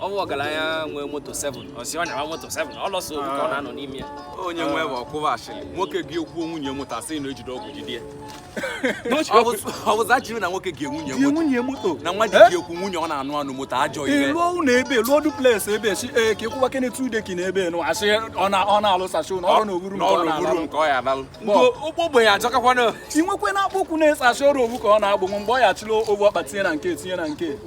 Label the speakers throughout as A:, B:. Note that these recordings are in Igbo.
A: ọ bụ ọgaranya nwee moto 7 a sị ọ na-ama moto 7 ọ lọsọ obi ka ọ na-anọ n'ime ya onye nwe bụ ọkwụwa ashịrị nwoke gị ekwuo nwunye moto a sị na e jide ọgwụ jide ya ọ bụza chiri na nwoke gị nwunye moto nwunye moto na nwa ji gị ekwu nwunye ọ na-anụ anụ moto ajọ ihe ị lụọ ụlọ ebe lụọ duplex ebe si ee ka ịkwụwa kene tude ki na ebe nụ a sị ọ na-alụsachi ụlọ ọrụ n'oburu nke ọ ya alalụ ụgbọ ogbenye ajọkakwana i nwekwena akpụkwụ na-asaa a sị ọ bụ ofu ka ọ na-agbụ mgbe ọ ya chịrị ofu ọkpa tinye na nke tinye na nke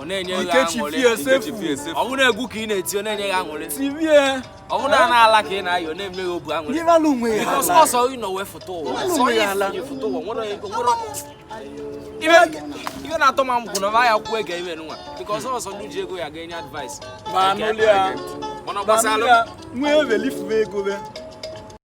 A: ọ na-enye gị aṅụrị ọ bụrụ egwu ka ị na-eti ọ na-enye gị aṅụrị ọ bụrụ na ala ka ị na-ayị ọ na-eme gị obi aṅụrị ọsọ ị nọ wee foto ụwa ọsọ ị na-enye foto ụwa nwere ibe na-atọ ma m kwụ na ọ ya kwuo ege ime nwa nke ọsọ ọsọ ndị ji ego ya ga-enye advice mana gbasara nwee ego